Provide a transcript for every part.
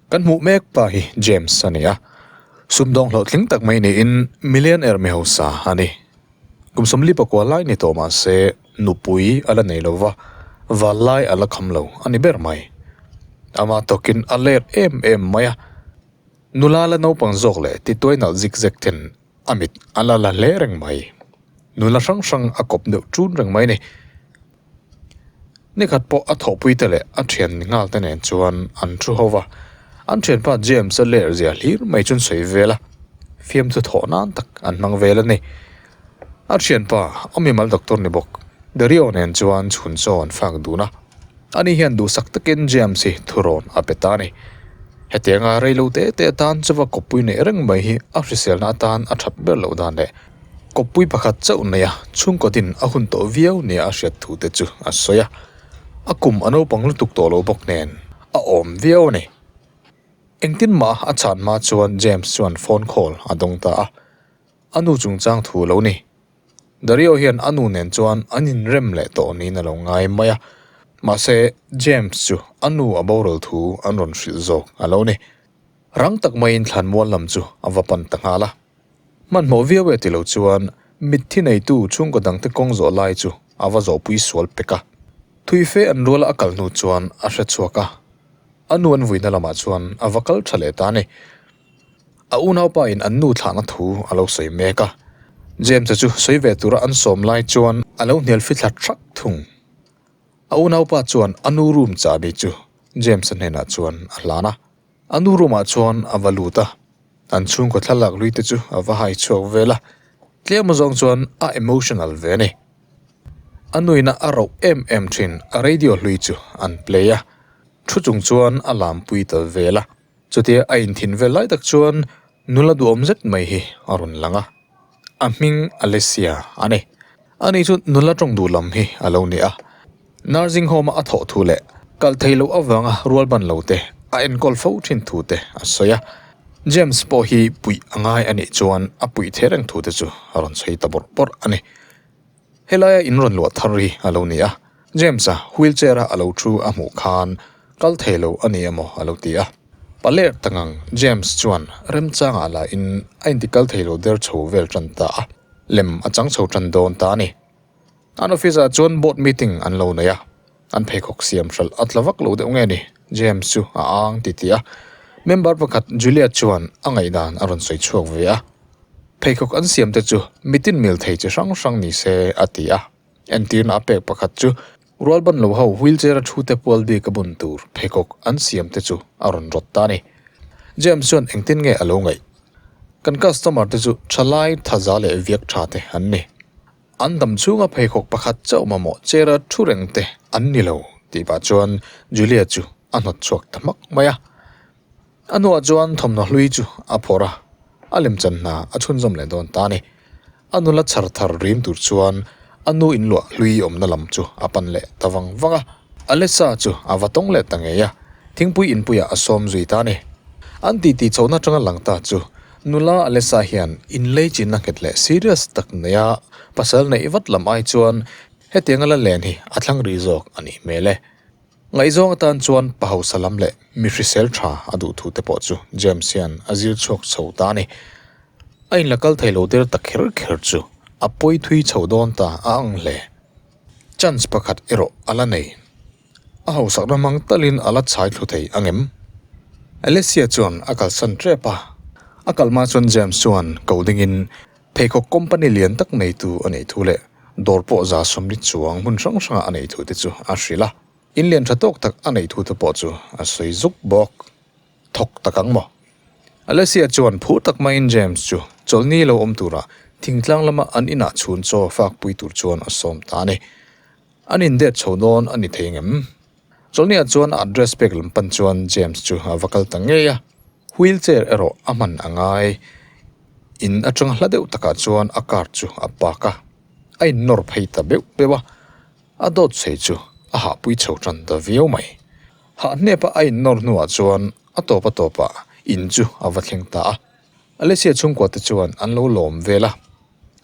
Kan hmuh mek pa hi James a ni a, sumdawng hlawh tling tak mai niin millionaire mi hausa a ni. Kum sawmli pakua lai ni tawh mah se nupui a la nei lo va, val lai a la kham lo a ni ber mai. Ama tawkin a let em em mai a, nula leh naupang zawk leh tituai nalh zikzek ten A mit a la la hle reng mai. Nula hrang hrang a kawp deuh chun reng mai a ni. Nikhat pawh a thawhpuite leh a thian nghakte nen chuan an thu ho va. An thianpa James a ler zia hlir mai chuan sawi vel a fiamthu thawh nan tak an hmang vel a ni. A thianpa awmimal doctor ni bawk. Dario nen chuan chhun chaw an fak dun a. Ani hian duhsak takin James hi thurawn a pe ta a ni. Hetianga reilo te te atan chuva kawppui neih reng mai hi a hriselna atan a that ber loh dan leh kawppui pakhat chauh neia chhungkawtin a hun tawh viau nia a hriat thu te chu a sawi a. A kum a naupang lutuk tawh lo bawk nen a awm viau a ni. Engtin mah a chhan hma chuan James chuan phone call a dawng ta a, a nu chungchang thu lo ni. Dario hian a nu nen chuan an inrem leh tawh niin a lo ngai mai a, mahse James chu a nu a boral thu an rawn hrilh zawk a lo ni. Rang tak maiin thlanmual lam chu a va pan ta nghal a. Hmanhmawh viau e ti lo chuan mitthi neitu chhungkaw dangte kawng zawh lai chu a va zawhpui sual pek a. Thui fe an rual a kal hnu chuan a hre chhuak a, a nu an vuina lamah chuan a va kal tha leh ta a ni. A unaupain an nu thlahna thu a lo sawi mek a, James-a chu sawi ve tura an sawm lai chuan a lo hnialfi thla hrap thung. A unaupa chuan a nu room chahbi chu James-a hnenah chuan a hlan a, a nu room-ah chuan a va lut a, an chhungkaw thlalak lui te chu a va hai chhuak vel a, tlema zawng chuan a emotional ve a ni. A nuina a rauh em em thin a radio hlui chu an play a, thu chung chuan a lampui ta vel a. Chutia a inthin vel lai tak chuan nula duhawm zet mai hi a rawn lang a, a hming Alessia a ni. A ni chu nula tawng duh lam hi a lo ni a, nursing home-a a thawh thu leh kal thei loh avanga rual ban lo te a enkawl fo thin thu te a sawi a. James pawh hi puih a ngai a nih chuan a puih theih reng thu te chu a rawn sawi ta bawrh bawrh a ni. Helaia in rawn luah thar hi a lo ni a, James-a wheelchair-a a lo thu a hmuh khan kal thei lo a ni emaw a lo ti a. Pa ler tak ang James chuan remchangah lahin a intikal thei lo der chho vel tan ta a, lem a chang chho tan dawn ta a ni. An office-ah chuan board meeting an lo nei a. An pheikhawk siam hralh a tla vak lo deuh nge ni? James chu a âng ti ti a. Member pakhat Juliet chuan a ngaihdan a rawn sawi chhuak ve a, Pheikhawk an siamte chu mitinmil thei chi hrang hrang ni se a ti a. Entirna a pek pakhat chu rualban lo ho wheelchair a thute pual bik a bun tur pheikhawk an siamte chu a rawn rawt ta a ni. James chuan engtin nge a lo ngaih? Kan customer te chu thalai, thaza leh viak tha te an ni. An dam chhunga pheikhawk pakhat chauh mamawh chera thu reng te an ni lo tih pah chuan Julia chu a hnawt chhuak ta hmak mai a. A hnuah chuan thawmhnaw hlui chu a phawrh a, a lem chan hna a chhunzawm leh dawn ta a ni. A nu la chhar thar rim tur chuan a nu in luah hlui awmna lam chu a pan leh ta vang vang a. Alessa chu a va tawng leh ta ngei a, thingpui inpuiah a sawm zui ta a ni. An titi chhohna atanga lang ta chu Nula Alessa hian inleichina nghet leh serious tak neia pasal neih vat lam ai chuan hetiang a la len hi a thlang rih zawk a nih hmel e. Ngaihzawng atan chuan pa hausa lam leh mi hrisel tha a duh thu te pawh chu James hian a zir chhuak chho ta a ni. A in la kal thei lo der ta kher kher chu a pawi thui chho dawn ta a ang hle. Chance pakhat erawh a la nei. A hausak ramang talhin a la chhai thlu thei ang em? Alessia chuan a kalsan ṭep a. A kalhma chuan James chuan ko dingin, Pheikhawk company lian tak neitu a nei thu leh dawr pawh za sawmli chuang hmun hrang hranga a nei thu te chu a hrilh a. Inlian ṭha tawk tak a nei thu te pawh chu a sawi zuk bawk. thawk tak ang maw? Alessia chuan phu tak maiin James chu chawlhni lo awm turah thingtlang lama an inah chhun chaw fak pui tur chuan a sawm ta a ni. An indet chho dawn a ni thei ngem. Chawlhnia chuan a address pek lam pan chuan James chu a va kal ta ngei a, wheelchair erawh a hman a ngai. In atanga hla deuh takah chuan a car chu a park a, a innawr phei ta beuh beuh a, a dawt sei chu a hahpui chho tan ta viau mai. Hahnep-a a innawr hnuah chuan a tawpa tawpa in chu a va thleng ta a. Alessia chhungkuate chuan an lo lawm vel a.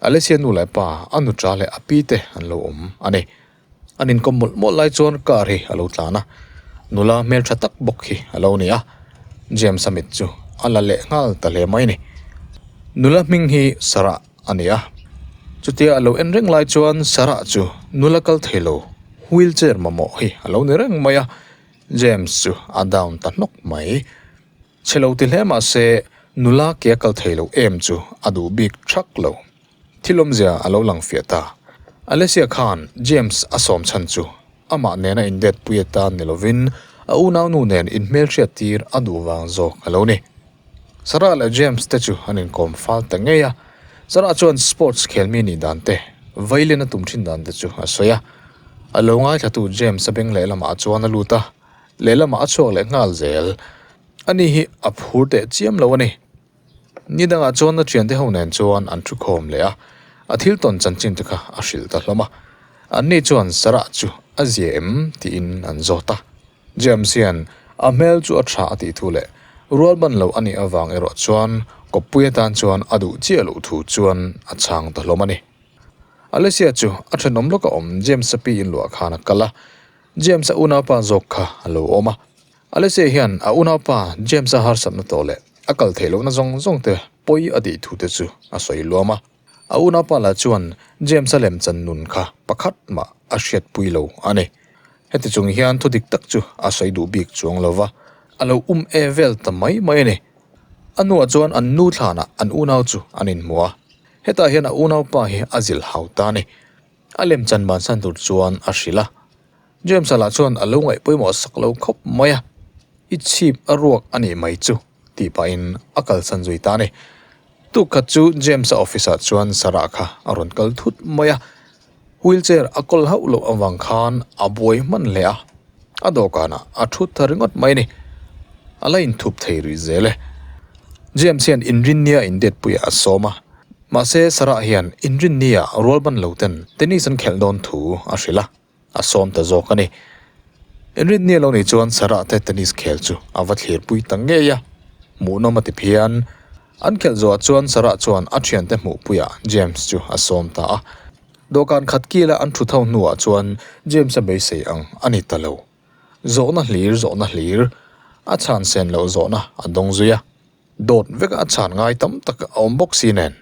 Alessia nu leh pa, a nucha leh a pi te an lo awm a ni. An inkawm mawlh mawlh lai chuan car hi a lo tlan a. Nula hmel tha tak bawk hi a lo ni a. James-a mit chu a la leh nghal ta hle mai a ni. Nula hming hi Sarah. a ni a. Chutia a lo en reng lai chuan Sarah chu nula kal thei lo wheel chair mamawh hi a lo ni reng mai a, James chu a down ta hnawk mai. Chhe lo ti hle mah se nula ke a kal thei loh em chu a duh bik thak lo. Thil awmzia a lo lang fiah ta. Alessia khan James a sawm chhan chu amah nena indet pui atan ni lovin a unaunu nen inhmelhriat tir a duh vang zawk a lo ni. Sarah leh James te chu an inkawm fal ta ngei a, Sarah chuan sports khel mi nih dan te, vailen a tum thin dan te chu a sawi a. A lo ngaithlatu James a beng lehlamah a chuan a lut a, lehlamah a chhuak leh nghal zel. A ni hi a phur teh chiam lo a ni. Ni dangah chuan na thiante ho nen chuan an thu khawm leh a, a thil tawn chanchin te kha a hrilh ta hlawm a. Anni chuan Sarah chu a zia em tiin an zawt a. James hian a hmel chu a tha a tih thu leh rual ban loh a nih avang erawh chuan Kawppuia tan chuan a duh chiah loh thu chuan a chhang ta hlawm a ni. Alicia chu a thenawm lawk a awm James-a pi in luah khan a kal a, James-a unaupa zawk kha a lo awm a. Alicia hian a unaupa James-a harsatna tawh leh a kal theih lohna zawng zawng te pawi a tih thu te chu a sawi luam a. A una pa lah chuan James-a lem chan nun kha pakhat mah a hriatpui lo a ni. Heti chung hian thudik tak chu a sawi duh bik chuang lo va, a lo um e vel ta mai mai a ni. A nu ah chuan an nu thlanah an unau chu an inhmu a, hetah hian a unau pa hi a zilhau ta a ni. A lem chan bansan tur chuan a hrilh a. James-a lah chuan a lo ngaih pawimawh sak lo khawp mai a, i chhip a ruak a nih mai chu tih pahin a kalsan zui ta a ni. Tuk khat chu James-a office ah chuan Sarah kha a rawn kal thut mai a, wheelchair a kawl hauh loh avang khan a buai hman hle a, a dawhkanah a thu ta ringawt mai a ni, a la inthup thei rih zel e. James hian inrinni a indetpui ah a sawm a, mahse Sarah hian inrinni ah rualban lo ten tennis an khelh dawn thu a hrilh a. A sawm ta zawk a ni. Enrit nge lo nih chuan Sarah te tennis khel chu a va thlirpui ta ngei a, hmuhnawm a ti phian. An khelh zawhah chuan Sarah chuan a thiante hmuhpuiah James chu a sawm ta a. Dawhkan khat kila an thu tho hnuah chuan James-a beisei ang a ni ta lo. Zawhna hlir zawhna hlir. A chhansen loh zawhna a dawng zui a. Dawt vek a chhan ngai tam tak a awm bawk si nen,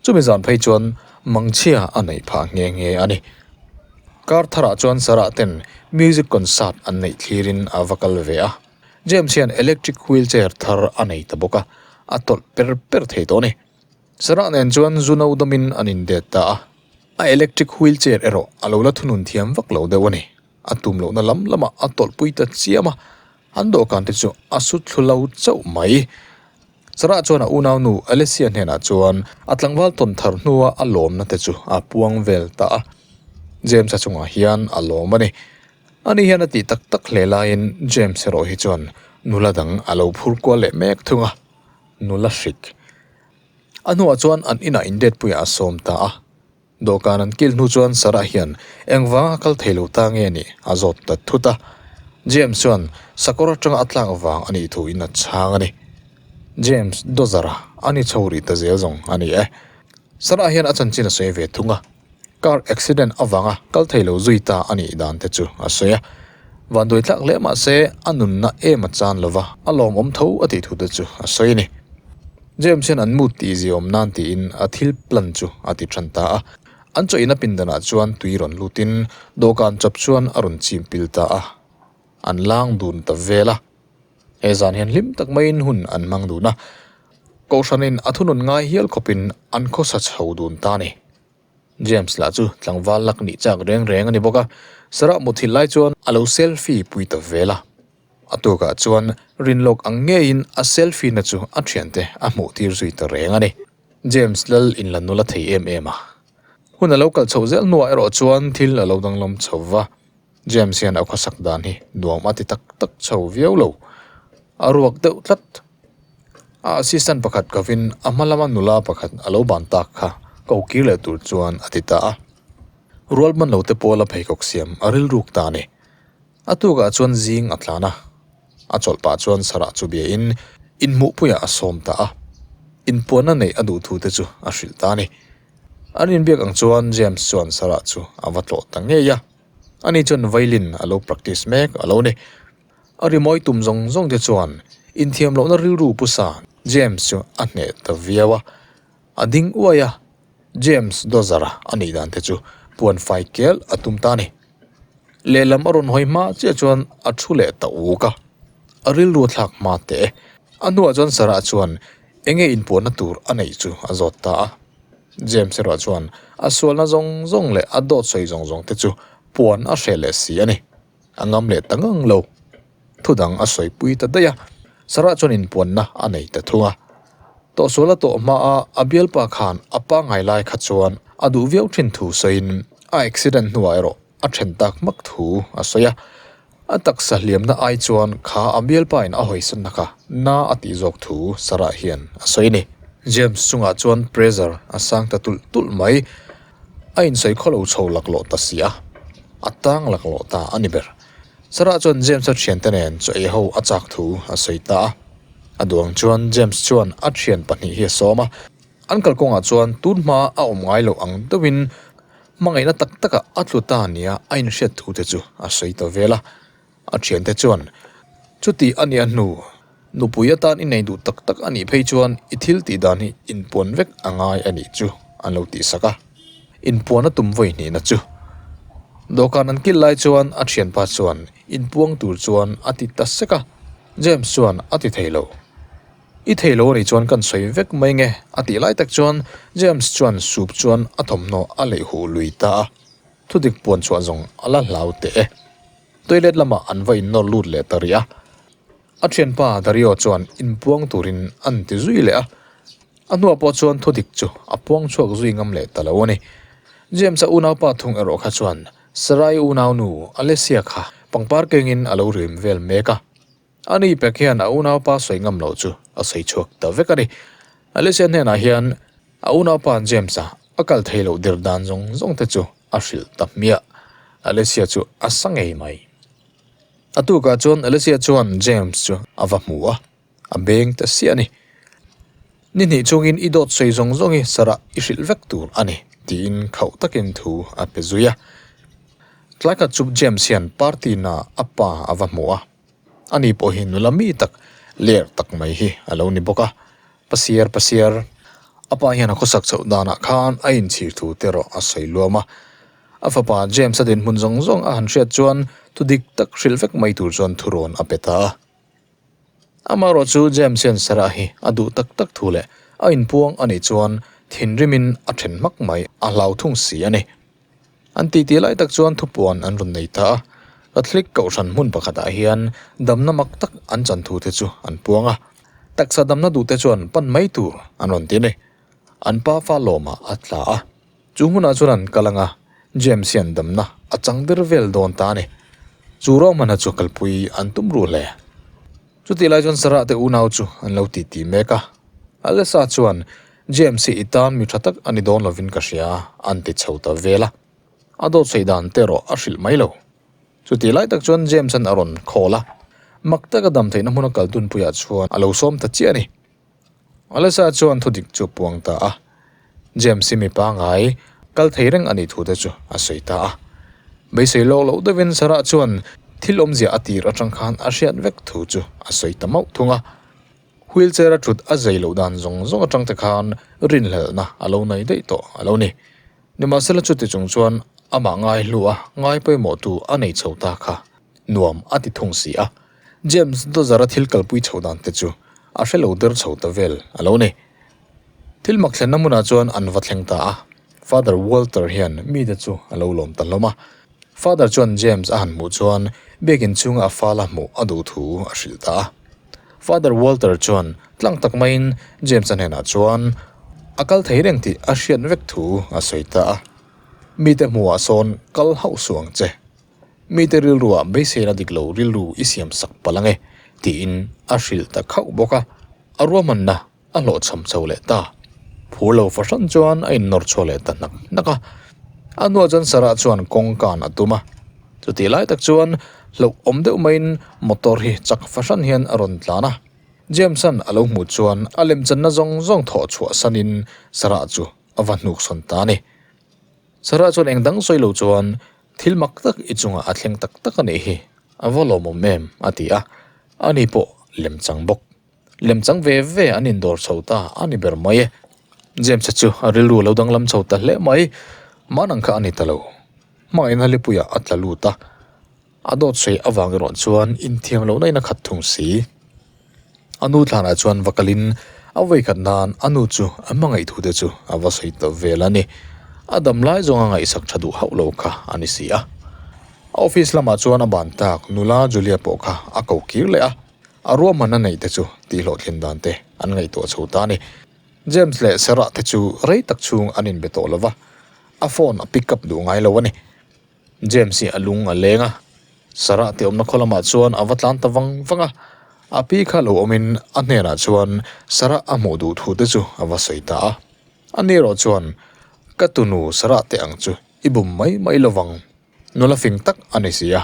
chumi zan phei chuan Mangchhia a neih phah nghe nghe a ni. Kar tharah chuan Sarah ten music concert an neih thlirin a va kal ve a, James hian electric wheelchair thar a nei ta bawk a, a tawlh per per thei tawh a ni. Sarah nen chuan zu no dawmin an indet ta a, a electric wheelchair erawh a lo la thunun thiam vak lo deuh a ni, a tum lohna lam lamah a tawlhpui ta chiam a, An dawhkan te chu a su thlu lo chauh mai. Sarah chuan a unau nu Alessia hnenah chuan a tlangval tawn thar hnua a lawmna te chu a puang vel ta a. James-a chungah hian a lawm a ni. A ni hian a tih tak tak hle laiin James erawh hi chuan nula dang a lo phur kual leh mek thung a. Nula hrik. A hnuah chuan an inah indet puiah a sawm ta a. Dawhkan an kil hnu chuan Sarah hian, Engvang a kal thei lo ta nge ni? a zawt ta thut a. James chuan, Sakawr atanga a tlak vang a nih thu in a chhang a ni. James, Dozer a, a ni chho rih ta zel zawng a ni e. Sarah hian a chanchin a sawi ve thung a, Car accident avanga kal thei lo zui ta a nih dan te chu a sawi a. Vanduai tlak leh mah se a nunna em a chan lo va, a lawmawm tho a tih thu te chu a sawi a ni. James hian an mut tih zia awm nan tiin a thil plan chu a ti ṭhan ta a. An chaw ina pindanah chuan tui rawn lutin dawhkan chap chuan a rawn chimpil ta a, an lang dun ta vel a. He zan hian hlim tak maiin hun an hmang dun a, Kohhranin a thunawn ngai hial khawpin an khawsa chho dun ta a ni. James lah chu tlangval lak nih chak reng reng a ni bawk a, Sarah mut thil lai chuan a lo selfie pui ta vel a. A tukah chuan rin lawk ang ngeiin a selfie na chu a thiante a hmuh tir zui ta reng a ni. James lal in la nul a thei em em a. Hun a lo kal chhoh zel hnuah erawh chuan thil a lo danglam chho va, James hian a khawsak dan hi nuam a ti tak tak chho viau lo. A ruak deuh tlat. A assistant pakhat kovin a hma lama nula pakhat a lo ban tak kha ko kir leh tur chuan a ti ta a. Rual hmanlote pawla pheikhawk siam a rilruk ta a ni. A tukah chuan zing a tlan a, a chawlh pah chuan Sarah chu bia in inhmuh puiah a sawm ta a, inpuana neih a duh thu te chu a hrilh ta a ni. An rin biak ang chuan James chuan Sarah chu a va tlawh ta ngei a, ani chuan violin a lo practice mek a lo ni. A rimawi tum zawng zawng te chuan inthiam lohna rilru pu sa James chu a hneh ta viau a, A ding uai a, James Dozer a nih dan te chu puan fai kel a tum ta a ni. Lehlam a rawn hawi hma chiah chuan a thu leh ta uk a, a rilru a thlak hma teh e. A hnuah chuan Sarah chuan enge inpuanna tur a neih chu a zawt ta a. James erawh chuan a sualna zawng zawng leh a dawt sawi zawng zawng te chu puan a hreh leh si a ni. A ngam leh ta ngang lo. Thu dang a sawi pui ta daih a. Sarah chuan inpuanna a nei ta thung a. Tawh sual a tawh hma a, a bialpa khan a pangngai lai kha chuan a duh viau thin thu sawiin a accident hnuah erawh a then tak hmak thu a sawi a. A taksa hliamna ai chuan kha a bialpa in a hawisanna kha na a tih zawk thu Sarah hian a sawi a ni. James chungah chuan pressure a sang ta tulh tulh mai. A insawi khaw lo chho lak lawh ta si a, a tang lak lawh ta a ni ber. Sarah chuan James a thian te nen chaw ei ho a chak thu a sawi ta a. A duang chuan James chuan a thian pahnih hi a sawm a, an kalkawngah chuan tun hma a awm ngai loh ang deuhin hmangaihna tak takah a tlu ta nia a inhriat thu te chu a sawi ta vel a. A thiante chuan, Chutih a nia hnu, nupui atan i nei duh tak tak a nih phei chuan i thil tih dan hi inpuan vek a ngai a nih chu an lo tih sak a, inpuan a tum vawi hnihna chu. Dawhkan an kil lai chuan a thianpa chuan inpuang tur chuan a ti ta sek a, James chuan a ti thei lo. I thei lo a nih chuan kan sawi vek mai nge a tih lai tak chuan James chuan sup chuan a thawmhnaw a leih huh lui ta a. Thudik puan chhuah zawng a la hlau teh e. Toilet lamah an va innawr lut leh ta rih a. A thianpa Dario chuan inpuang turin a han ti zui leh a. A hnuah pawh chuan Thudik chu a puang chhuak zui ngam leh ta lo a ni. James-a unaupa thung erawh kha chuan Sarai unaunu Alessia kha pangpar kengin a lo rilmvel mek a. A ni pek hian a unaupa sawi ngam lo chu a sawi chhuak ta vek a ni. Alice-a hnenah hian a unaupa James-a a kal thei loh dir dan zawng zawng te chu a hrilh ta hmiah Alice-a chu a sa ngei mai. A tukah chuan Alice-a chuan James chu a va hmu a, a beng ta si a ni. Ni hnih chungin i dawt sawi zawng zawng hi Sarah i hrilh vek tur a ni, tiin khauh takin thu a pe zui a. Tlai khat chu James hian party-na a pa a va hmu a. a ni pawh hi nula mi tak ler tak mai hi a lo ni bawk a pasir pasir apa hian a khawsak chhoh dan ah khan a in chhir thu te erawh a sawi luam a a fapa James a dinhmun zawng zawng a han hriat chuan thu dik tak hrilh vek mai tur chuan thu rawn a pe ta a amaherawh chu James hian Sarah hi a duh tak tak thu leh a in puang a nih chuan thinrim in a then hmak mai a hlau thung si a ni. An titi lai tak chuan thupuan an rawn nei ta a. Catholic kohhran hmun pakhatah hian damna mak tak an chan thu te chu an puang a. Taksa damna duhte chuan pan mai tur an rawn ti a ni. An pa fa lawmah a tla a. Chu hmunah chuan an kal anga James hian damna a chang ber vel dawn ta a ni. Chu ruak hmanah chu kalpui an tum ruh hle. Chutih lai chuan Sarah te unau chu an lo titi mek a. Alesa chuan James i tan mi tha tak a ni dawn lovin ka hria an ti chho ta vel a, a dawt sawi dan te erawh a hrilh mai lo. Chutih lai tak chuan James an a rawn khawl a, mak taka dam theihna hmuna kal tunpuiah chuan a lo sawm ta chiah a ni. Alesa chuan thudik chu a puang ta a, James i mi pangngai kal thei reng a nih thu te chu a sawi ta a. Beisei lawk loh deuhin Sarah chuan thil awmzia a tir atang khan a hriat vek thu chu a sawi ta mauh thung a, Wheelchair a ṭut a zei loh dan zawng zawng aṭangte khan rinhlelhna a lo nai daih tawh a lo ni. Nimahsela chuti chung chuan amah ngaihlu a ngai pawimawhtu a nei chho ta kha nuam a ti thung si a. James Dozer-a thil kalpui chho dan te chu a hre lo der chho ta vel a lo ni. Thil mak thlenna hmunah chuan an va thleng ta a. Father Walter hian mite chu a lo lawm ta hlawm a, Father chuan James a han hmuh chuan biakin chhunga a fâl a hmuh a duh thu a hrilh ta a. Father Walter chuan tlang tak maiin James a hnenah chuan a kal thei reng tih a hriat vek thu a sawi ta a, Mite hmuhah sawn kal hauh suh ang che. Mite rilruah beiseiin a dik lo rilru i siam sak palh ang e, tiin a hrilh ta khauh bawk a, a ruahmanna a hlawhchham chho leh ta. Phur lo fa hran chuan a innawr chhuah leh ta hnak hnak a, a hnuah chuan Sarah chuan kawng kan a tum a, chutih lai tak chuan hlauhawm deuh maiin motor hi chak fa hran hian a rawn tlan a. James-a'n a lo hmuh chuan a lemchanna zawng zawng thawh chhuah sanin Sarah chu a va hnuksawn ta a ni. Sarah chuan eng dang sawi lo chuan thil mak tak i chungah a thleng tak tak a nih hi a va lawmawm em a ti a, ani pawh lemchang bawk. lem chang ve ve an in dawr chho ta a ni ber mai e, James-a chu a rilru a lo danglam chho ta hle mai, man ang kha a ni ta lo, hmangaih na lipuia a tla lut a, a dawtsawi avang erawh chuan inthiam lohna in a khat thung si, a nu tlanah chuan va kalin a vawi khat nan a nu chu a hmangaih thu te chu a va sawi ta vel a ni, a dam lai zawnga ngaihsak tha duh hauh lo kha a ni si a, a office lamah chuan a ban tak nula Julia pawh kha a ko kir leh a. A ruahman a neih te chu tihhlawhthlin dan te an ngaihtuah chho ta a ni. James leh Sarah te chu rei tak chhung an inbe tawh lo va, a phone a pick up duh ngai lo a ni. James hi a lung a leng a, Sarah ti awmna khawlamah chuan a va tlan ta vang vang a. A pi kha lo awmin a hnenah chuan Sarah a hmuh duh thu te chu a va sawi ta a. A ni erawh chuan, Ka tunu Sarah te ang chu i bum mai mai lovang. Nula fing tak a ni si a,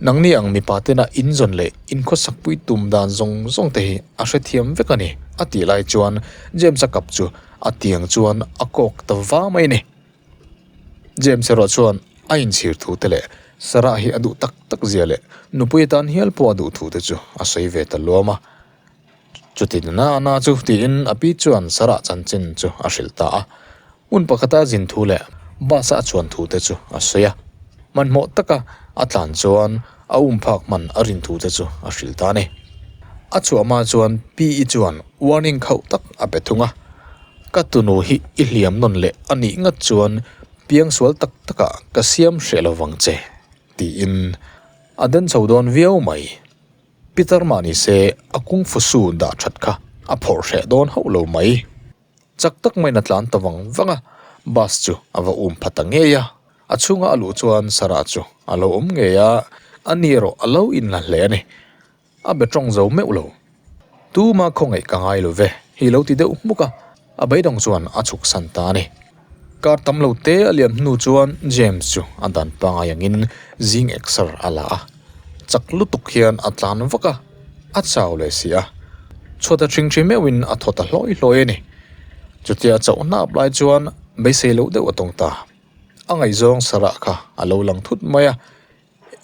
nangni ang mipa tena inzawn leh inkhawsakpui tum dan zawng zawng te hi a hrethiam vek a ni a tih lai chuan James a kap chu a tiang chuan a kawk ta va mai a ni. James erawh chuan a inchhir thu te leh Sarah hi a duh tak tak zia leh nupui atan hial pawh a duh thu te chu a sawi ve ta luam a, chuti nana chu tiin a pi chuan Sarah chanchin chu a hrilh ta a. Hmun pakhata zin thu leh bus-a a chuan thu te chu a sawi a, hmanhmawh taka a tlan chuan a um phak hman a rin thu te chu a hrilh ta a ni. A chhuah hma chuan Pi-i chuan warning khauh tak a pe thung a, Ka tunu hi i hliam nawn leh a nih ngat chuan piang sual tak taka ka siam hreh lo vang che, tiin a den chho dawn viau mai. Peter mah ni se a kungfu su dah that kha a phawrh hreh dawn hauh lo mai. Chak tak maiin a tlan ta vang vang a, bus chu a va um pha ta ngei a, a chhunga a luh chuan Sarah chu a lo awm ngei a, a ni erawh a lo inla hle a ni, a be tawng zo meuh lo, tumah khawngaih ka ngai lo ve hi lo ti deuh hmuk a, a beidawng chuan a chhuk san ta a ni. Car tam lo te a liam hnu chuan James chu a dan pangai angin zing exer a la a, chak lutuk hian a tlan vak a, a chau leh si a, chhuat a ṭhingṭhi meuhin a thaw ta hlawi hlawi a ni. Chutia a chauh hnap lai chuan beisei loh deuh a tawng ta. A ngaihzawng sarah kha a lo lang thut mai a,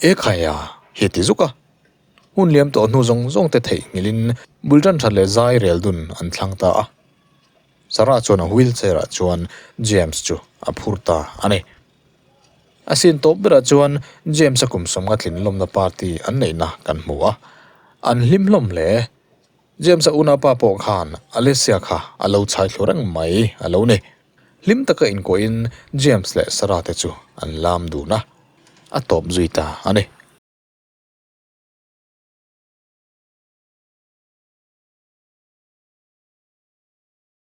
E khaia hi a ti zuk a, hun liam tawh hnu zawng zawngte theih ngilhin bul ṭan ṭhat leh zai rel dun an thlang ta a. Sarah chuan a wheelchair ah chuan James chu a phur ta a ni. A sin tawp berah chuan James-a kum sawmnga tlinhlawmna party an neihna kan hmu a, an hlim hlawm hle. James-a unaupa pawh khan Alessia kha a lo chhai thlu reng mai a lo ni. Hlim taka inkuahin James leh Sarah te chu an lam dun a, a tawp zui ta a ni.